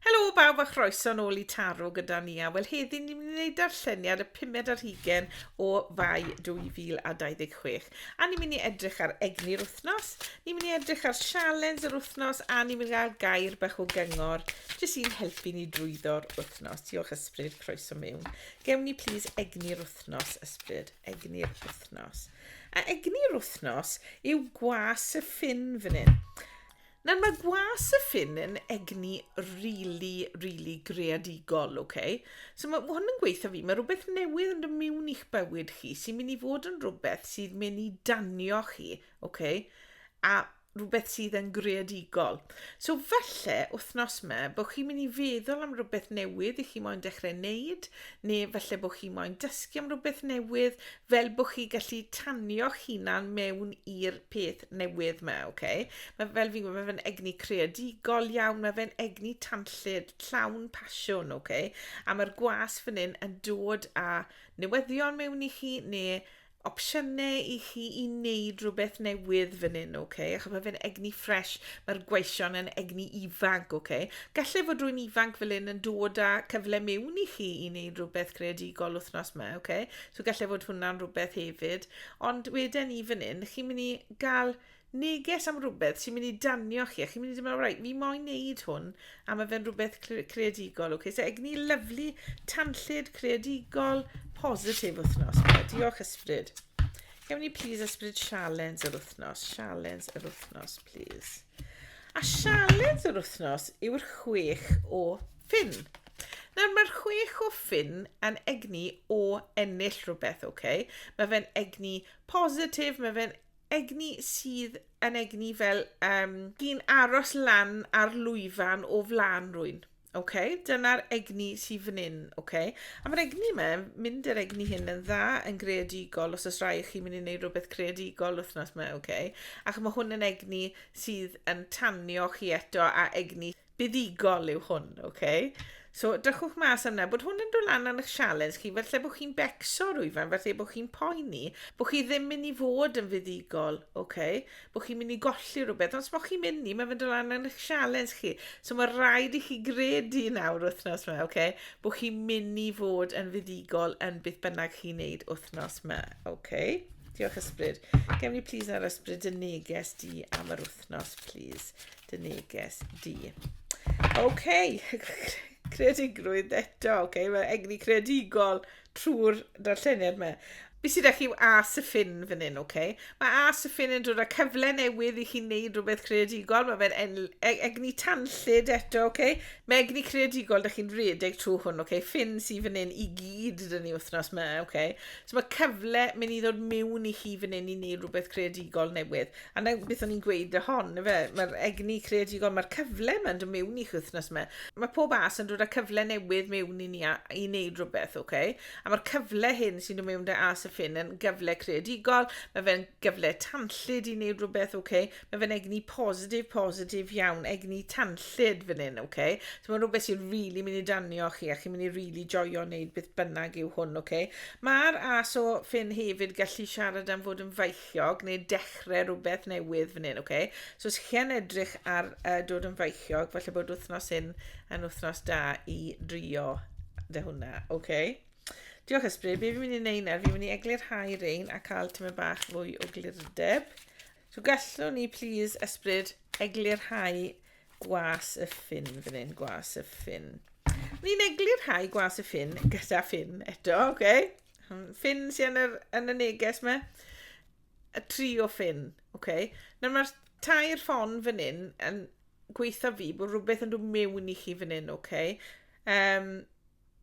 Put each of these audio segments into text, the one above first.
Helo bawb a chroeso nôl i Taro gyda ni a wel heddi ni'n mynd i wneud darlleniad y pumed ar hugen o fai 2026 a ni'n mynd i edrych ar egni'r wythnos, ni'n mynd i edrych ar sialens yr wythnos a ni'n mynd i gael gair bach o gyngor jyst i'n helpu ni drwyddo'r wythnos. Diolch Ysbryd, croeso mewn. Gewn ni plis egni'r wythnos, Ysbryd, egni'r wythnos. A egni'r wythnos yw gwas y ffin fan hyn. Nawr mae gwas y ffin yn egni rili, rili greadigol, ok? So mae hwn yn gweithio fi, mae rhywbeth newydd yn dod mewn i'ch bywyd chi sy'n mynd i fod yn rhywbeth sydd mynd i danio chi, ok? A rhywbeth sydd yn greadigol. So falle wythnos yma bod chi'n mynd i feddwl am rhywbeth newydd i chi moyn dechrau wneud, neu falle bod chi moyn dysgu am rhywbeth newydd, fel bo chi gallu tanio'ch hunan mewn i'r peth newydd 'ma, oce? Mae fel fi'n gwybod, mae fe'n egni creadigol iawn, mae fe'n egni tanllyd, llawn pasiwn, oce? A mae'r gwas fan hyn yn dod â newyddion mewn i chi, neu opsiynau i chi i wneud rhywbeth newydd fan hyn, oce? Okay? Achos mae fe'n egni ffres, mae'r gweision yn egni ifanc, oce? Okay? Gallai fod rwy'n ifanc fel hyn yn dod â cyfle mewn i chi i wneud rhywbeth creadigol wythnos yma, oce? Okay? So gallai fod hwnna'n rhywbeth hefyd. Ond wedyn ni fan hyn, chi'n mynd i gael neges am rhywbeth sy'n mynd i danio chi. A chi'n mynd i dweud, right, fi moyn neud hwn a mae fe'n rhywbeth creadigol. Okay? So egni lyflu, tanllyd, creadigol, positif wythnos. Diolch ysbryd. Gewn ni please ysbryd sialens yr wythnos. Sialens yr wythnos, please. A sialens yr wythnos yw'r chwech o Ffin. Nawr mae'r chwech o ffin yn egni o ennill rhywbeth, ok? Mae fe'n egni positif, mae fe'n egni sydd yn egni fel um, un aros lan ar lwyfan o flan rwy'n. Ok, dyna'r egni sydd fan hyn, ok? A mae'r egni yma, mynd yr egni hyn yn dda, yn greadigol, os oes rai chi mynd i wneud rhywbeth creadigol wythnos yma, ok? Ac mae hwn yn egni sydd yn tanio chi eto a egni buddugol yw hwn, oce? Okay? So, drychwch mas am yna, bod hwn yn dod lan yn eich sialens chi, felly bod chi'n becso rwyfan, felly bod chi'n poeni, bod chi ddim mynd i fod yn fuddugol, oce? Okay? Bod chi'n mynd i golli rhywbeth, ond os bod chi'n mynd i, mae'n mynd dod lan yn eich sialens chi. So, mae rhaid i chi gredu nawr wythnos yma, oce? Okay? Bod chi'n mynd i fod yn fuddugol yn beth bynnag chi'n neud wythnos yma, oce? Okay? Diolch ysbryd. Gem ni please ar ysbryd y neges di am yr wythnos, please. dy neges di. OK, creadigrwydd eto, OK, mae egni creadigol trwy'r darlleniad yma. Fi sydd â chi yw A Syffin fan hyn, OK? Mae A Syffin yn dod â cyfle newydd i chi wneud rhywbeth creadigol. Mae fe'n e-, egni tanllid eto, OK? Mae egni creadigol, da chi'n rhedeg trwy hwn, OK? Ffin sydd fan hyn i gyd dyn ni wythnos yma, OK? So mae cyfle mynd i ddod mewn i chi fan hyn i wneud rhywbeth creadigol newydd. A 'na beth o'n i'n gweud o hon yfe, ma'r egni creadigol, ma'r cyfle 'ma'n do' mewn i'ch wythnos 'ma. Ma' pob as yn dod â cyfle newydd mewn i ni a i neud rwbeth oce? A ma'r cyfle hyn sy'n do' mewn 'da As y Ffin yn gyfle creadigol, ma' fe'n gyfle tanllyd i neud rwbeth oce? Ma' fe'n egni positif positif iawn, egni tanllyd fan 'yn oce? So ma'n rwbeth sy'n rili myn' i danio chi a chi'n myn' i rili joio neud beth bynnag yw hwn oce? Ma'r as o Ffin hefyd gallu siarad am fod yn feichiog neu dechrau rhywbeth newydd fan hyn, okay? So os chi'n edrych ar uh, dod yn feichiog, falle bod wythnos hyn yn wythnos da i drio dy hwnna, okay? Diolch ysbryd, be fi'n mynd i wneud nawr, fi'n mynd i eglurhau rein a cael tymau bach fwy o glirdeb. So gallwn ni, please, ysbryd, eglurhau gwas y ffin fan hyn, gwas y ffin. Ni'n eglurhau gwas y ffin gyda ffin eto, okay? Ffin sy yn, yr, yn y neges me. Y tri o ffin. Okay. Nawr mae'r tair ffon fan hyn yn gweithio fi bod rhywbeth yn dod mewn i chi fan hyn, okay? Um,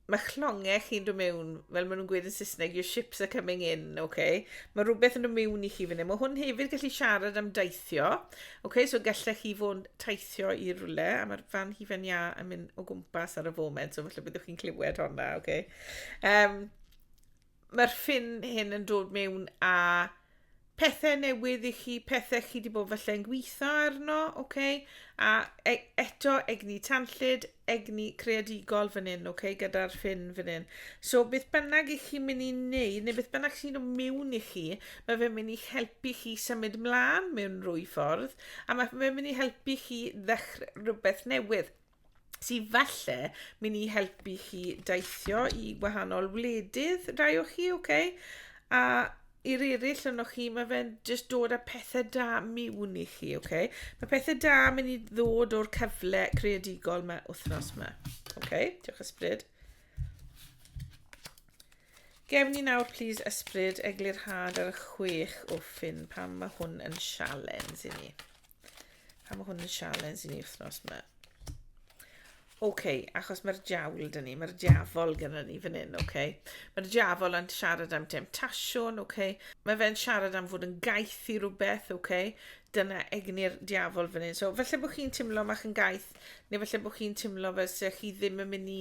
mae chlongau chi'n dod mewn, fel maen nhw'n gweud yn Saesneg, your ships are coming in, oce? Okay? Mae rhywbeth yn dod mewn i chi fan hyn. Mae hwn hefyd gallu siarad am daithio, oce? Okay? So gallech chi fod taithio i rhywle, a mae'r fan hi fan ia yn mynd o gwmpas ar y foment, so felly byddwch chi'n clywed honna, oce? Okay? Um, Mae'r ffin hyn yn dod mewn a pethau newydd i chi, pethau chi wedi bod falle yn gweithio arno, oce? Okay? A e eto egni tanllid, egni creadigol fan hyn, oce, okay? gyda'r ffin fan hyn. So beth bynnag i chi'n mynd i wneud, neu beth bynnag sy'n dod mewn i chi, mae fe'n mynd i helpu chi symud mlaen mewn rwy ffordd, a mae fe'n mynd i helpu chi ddechrau rhywbeth newydd. sydd falle mynd i helpu chi deithio i wahanol wledydd, rai o chi, oce? Okay? A i'r eraill yno chi, mae fe'n just dod â pethau da miwn i chi, oce? Okay? Mae pethau da mynd i ddod o'r cyfle creadigol mae wythnos yma. Oce, okay? diolch ysbryd. Gef ni nawr, please, ysbryd eglurhad ar y chwech o ffyn pan mae hwn yn sialens i ni. Pam mae hwn yn sialens i ni wythnos yma? Oce, okay, achos mae'r diawl dyn ni, mae'r diafol gyda ni fan hyn, oce. Okay. Mae'r diafol yn siarad am demtasiwn, oce. Okay. Mae fe'n siarad am fod yn gaeth i rhywbeth, oce. Okay. Dyna egni'r diafol fan hyn. So, felly bod chi'n teimlo mach yn gaeth, neu felly bod chi'n teimlo fel sy'ch chi ddim yn mynd i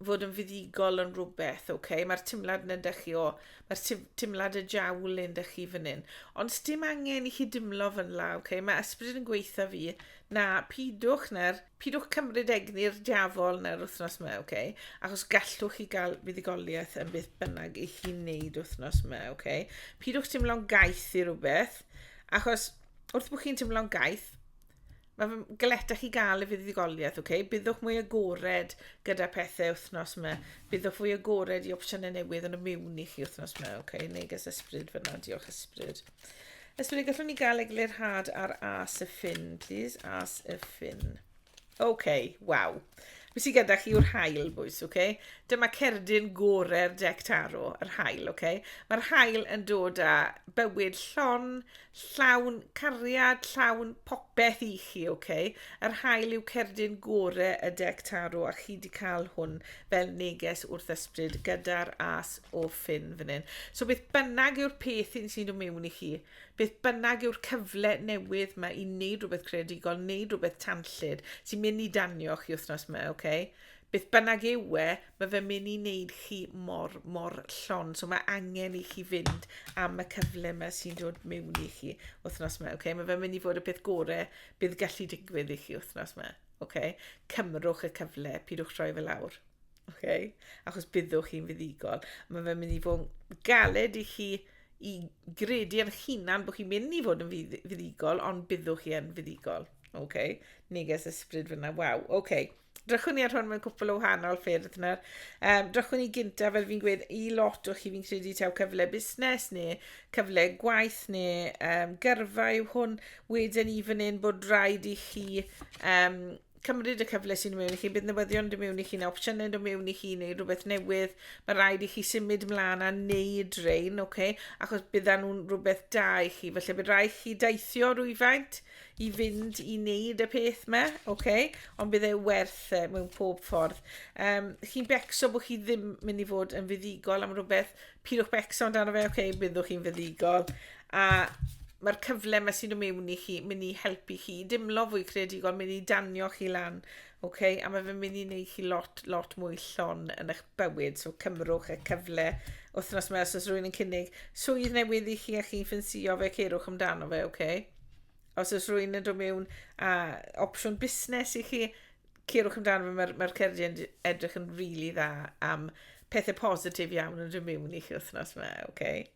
fod yn fuddugol yn rhywbeth, oce? Okay? Mae'r timlad yn ydych chi o, mae'r timlad y jawl yn ydych chi fan hyn. Ond dim angen i chi dimlo fy nla, oce? Okay? Mae ysbryd yn gweitha fi, na, pidwch na'r, pidwch cymryd egni'r diafol na'r wythnos yma, oce? Okay? Achos gallwch chi gael fuddugoliaeth yn beth bynnag i chi wneud wythnos yma, oce? Okay? Pidwch dimlo'n gaeth i rhywbeth, achos wrth bod chi'n dimlo'n gaeth, Mae fy galetach i gael y fuddugoliaeth, oce? Okay? Byddwch mwy agored gyda pethau wythnos yma. Byddwch fwy agored i opsiynau newydd yn y miwn i chi wythnos yma, oce? Okay? Neges ysbryd fyna, diolch ysbryd. Ysbryd, gallwn ni gael eglurhad ar as y ffin, please? As y ffin. Oce, okay, waw. Beth sydd gyda chi yw'r hael, bwys, oce? Okay? Dyma cerdyn gorau'r dec taro, yr hael, oce? Okay? Mae'r hael yn dod â bywyd llon, Llawn cariad, llawn popeth i chi, ok? Yr haul yw cerdyn gore y deck tarot a chi di cael hwn fel neges wrth ysbryd gyda'r as o ffin fan hyn. So beth bynnag yw'r peth hyn sy'n dod mewn i chi, beth bynnag yw'r cyfle newydd mae i wneud rhywbeth creadigol, wneud rhywbeth tanllyd sy'n mynd i danio chi wythnos yma, ok? Beth bynnag yw e, mae fe'n mynd i wneud chi mor, mor llon. So mae angen i chi fynd am y cyfle yma sy'n dod mewn i chi wythnos yma. Okay? Mae fe'n mynd i fod y peth gorau bydd gallu digwydd i chi wythnos yma. Okay? Cymrwch y cyfle, pidwch troi fe lawr. Okay? Achos byddwch chi'n fuddigol. Mae fe'n mynd i fod yn galed i chi i gredu yn hunan bod chi'n mynd i fod yn fuddigol, ond byddwch chi yn fuddigol. Okay? Neges ysbryd fyna, waw, okay. Drychwn ni ar hwn mewn cwpl o wahanol ffyrdd nawr. Um, drychwn ni gyntaf, fel fi'n gweud, i lot o chi fi'n credu taw cyfle busnes neu cyfle gwaith neu um, gyrfa yw hwn. Wedyn i fan hyn bod rhaid i chi um, cymryd y cyfle sy'n mewn i chi, bydd newyddion yn mewn i chi neu opsiynau yn mewn i chi neu rhywbeth newydd. Mae rhaid i chi symud mlaen a wneud rhain, okay? achos bydda nhw'n rhywbeth da i chi. Felly bydd rhaid chi daithio rwyfaint i fynd i wneud y peth me, ok, ond bydd e werth e mewn pob ffordd. Um, chi'n becso bod chi ddim mynd i fod yn fuddigol am rhywbeth, pidwch becso amdano fe, ok, byddwch chi'n fuddigol. A mae'r cyfle yma sy'n ymewn i chi mynd i helpu chi i dimlo fwy creadigol, mynd i danio chi lan, okay? a mae fe'n mynd i wneud chi lot, lot mwy llon yn eich bywyd, so cymrwch y cyfle wythnos yma os oes rhywun yn cynnig swydd newydd i chi a chi'n ffensio fe, ceirwch amdano fe, okay? os oes rwy'n yn dod mewn a opsiwn busnes i chi, cerwch amdano fe, mae'r mae cerddi yn edrych yn rili really dda am pethau positif iawn yn dod mewn i chi wythnos yma, oce? Okay?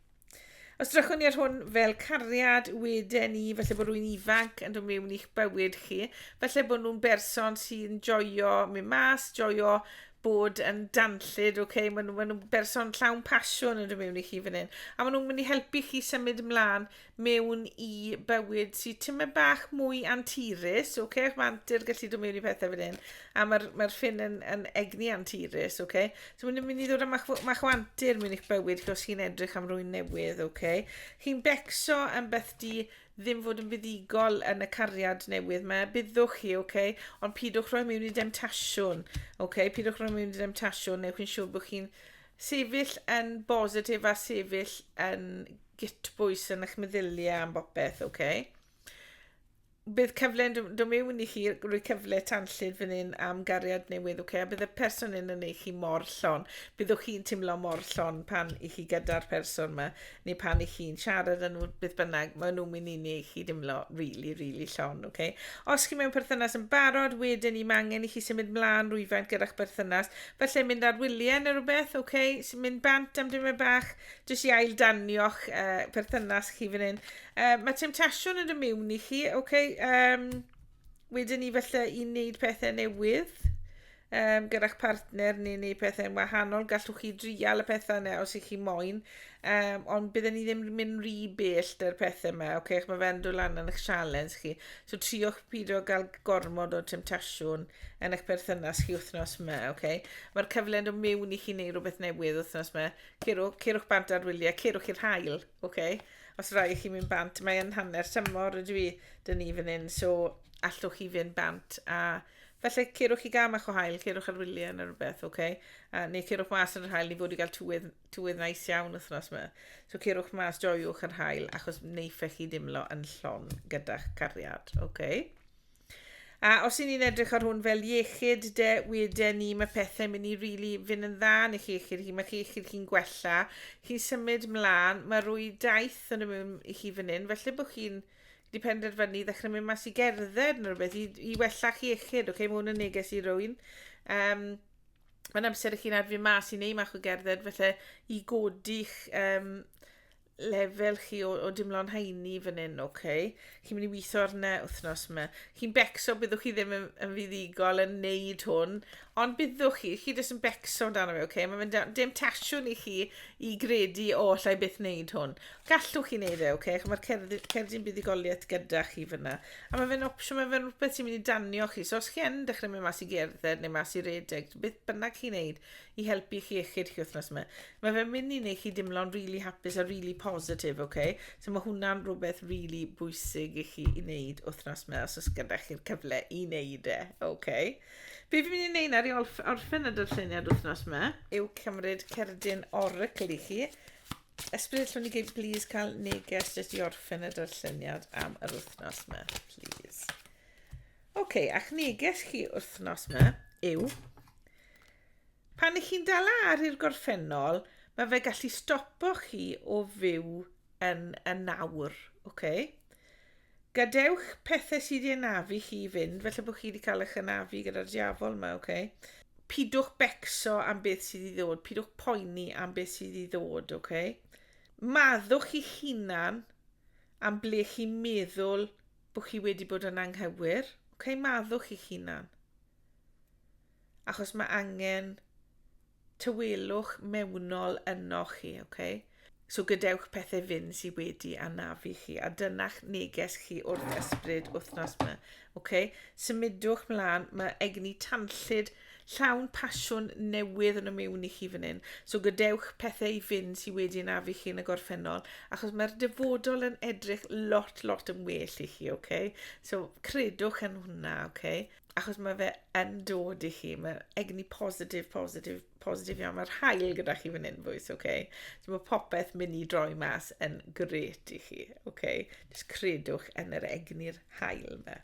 Os drychwn ni ar hwn fel cariad wedyn ni, felly bod rwy'n ifanc yn dod mewn i'ch bywyd chi, felly bod nhw'n berson sy'n joio mynd mas, joio bod yn danllyd, oce, okay? maen nhw'n ma nhw berson llawn pasiwn yn dod mewn i chi fan hyn, a maen nhw'n mynd i helpu chi symud ymlaen mewn i bywyd sy tymed bach mwy anturus, oce? Okay? Mae antur gallu dod mewn i pethau fan hyn. A mae'r mae ffin yn, yn egni anturus, oce? Okay? So mae'n mynd i ddod â mach, mach o antur mewn i'ch bywyd chi os chi'n edrych am rwy'n newydd, oce? Okay? Chi'n becso am beth di ddim fod yn fuddigol yn y cariad newydd mae byddwch chi, oce? Okay? Ond pidwch rhoi mewn i demtasiwn, oce? Okay? Pidwch rhoi mewn i demtasiwn, neu chi'n siŵr bod chi'n sefyll yn bositif a sefyll yn gytbwys yn eich meddyliau am bopeth, oce? Okay? bydd cyfle yn dod mewn i chi rhoi cyfle tanllyd fan hyn am gariad newydd, okay? a bydd y person yn yn eich chi mor llon. Byddwch chi'n teimlo mor llon pan i chi gyda'r person yma, neu pan i chi'n siarad yn nhw, bydd bynnag, maen nhw'n mynd i ni i chi deimlo really, really llon. Okay? Os chi mewn perthynas yn barod, wedyn i mangen i chi symud mlaen rwyfaint gyda'ch berthynas. Felly mynd ar wyliau neu rhywbeth, okay? sy'n mynd bant am dymau bach, Jyst i ail danio'ch uh, perthynas chi fan hyn. Uh, mae temptasiwn yn y mewn i chi, oce? Okay, um, wedyn ni felly i wneud pethau newydd um, gyda'ch partner neu wneud pethau'n wahanol. Gallwch chi drial y pethau yna os ych chi moyn. Um, ond bydden ni ddim yn mynd rhy bell dy'r pethau yma. Oce, okay, mae fe'n dod lan yn eich sialens chi. So triwch pidio gael gormod o temptasiwn yn eich perthynas chi wythnos yma. Okay? Mae'r cyfle yn dod mewn i chi wneud rhywbeth newydd wythnos yma. Cerwch, cerwch bant ar wyliau, cerwch i'r hael, ok? Os rhaid i chi mynd bant, mae yn hanner tymor ydw i, dyn ni fan hyn, so allwch chi fynd bant a felly cerwch i gam a'ch o hael, cerwch ar wyliau neu rhywbeth, ok? A, neu cerwch mas yn yr hael, ni fod i gael tywydd, tywydd nais iawn wythnos yma. So cerwch mas, joiwch yr hael, achos neifech chi dimlo yn llon gyda'ch cariad, ok? A os i ni'n edrych ar hwn fel iechyd, de, wede ni, mae pethau mynd i rili really fynd yn dda yn eich iechyd chi, mae chi iechyd chi'n gwella, chi'n symud mlaen, mae rwy daith yn ymwneud i chi fan hyn, felly bod chi'n di penderfynu i ddechrau mynd mas i gerdded neu rhywbeth i, i wella chi iechyd, okay? mae hwn yn neges i rwy'n. Um, mae'n amser i chi'n adfu mas i neu mach o gerdded, felly i godi'ch um, lefel chi o, o dimlo'n haini fan hyn, oce? Okay? Chi'n mynd i weithio arne wythnos yma. Chi'n becso, byddwch chi ddim yn, yn fuddigol yn neud hwn, ond byddwch chi, chi jyst yn becso amdano fe, oce? Okay? Mae fe'n dim tasiwn i chi i gredu o allai byth neud hwn. Gallwch chi neud e, oce? Okay? Mae'r cerdyn buddigoliaeth gyda chi fyna. A mae fe'n opsiwn, mae fe'n rhywbeth sy'n mynd i danio chi. So os chi yn dechrau mynd mas i gerdded neu mas i redeg, beth bynnag chi'n neud, i helpu chi iechyd chi wythnos yma. Mae fe'n mynd i wneud chi dimlo'n really hapus a really positif, oce? Okay? So mae hwnna'n rhywbeth really bwysig i chi i wneud wythnos yma os oes gyda chi'r cyfle i wneud e, oce? Okay? Be fi'n mynd i wneud nawr i orffen y darlleniad wythnos yma yw cymryd cerdyn oracle i chi. Ysbryd allwn ni gyd, please, cael neges jyst i orffen y darlleniad am yr wythnos yma, please. Oce, okay, a'ch neges chi wythnos yma yw Pan ych chi'n dala ar i'r gorffennol, mae fe gallu stopo chi o fyw yn y nawr, ok? Gadewch pethau sydd i anafu chi i fynd, felly bod chi wedi cael eich anafu gyda'r diafol yma, ok? Pidwch becso am beth sydd i ddod, pidwch poeni am beth sydd i ddod, ok? Maddwch i'ch hunan am ble chi'n meddwl bod chi wedi bod yn anghywir, ok? Maddwch i'ch hunan. achos mae angen tywelwch mewnol yno chi, okay? So gadewch pethau fynd sydd wedi anafu chi, a dyna'ch neges chi wrth ysbryd wythnos yma. Okay? Symudwch mlaen, mae egni tanllyd llawn pasiwn newydd yn y mewn i chi fan hyn. So gadewch pethau i fynd sydd wedi anafu chi yn y gorffennol, achos mae'r dyfodol yn edrych lot, lot yn well i chi, okay? So credwch yn hwnna, okay? achos mae fe yn dod i chi, mae'r egni positif, positif, positif iawn. Mae'r hael gyda chi fan hyn, fwys, oce? Okay? So mae popeth mynd i droi mas yn gret i chi, oce? Okay? Just credwch yn yr egni'r hael yma.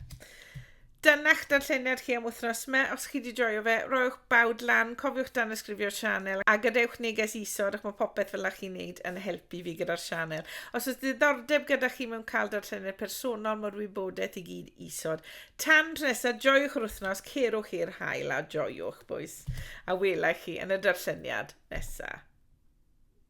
Dyna'ch darlleniad chi am wythnos yma. Os chi wedi joio fe, roiwch bawd lan, cofiwch dan ysgrifio'r sianel, a gadewch neges isod, ac mae popeth fel chi'n neud yn helpu fi gyda'r sianel. Os oes ddiddordeb gyda chi mewn cael darlleniad personol, mae'r wybodaeth i gyd isod. Tan tro nesa, joiwch yr wythnos, cerwch i'r haul a joiwch, bois. A wela i chi yn y darlleniad nesa.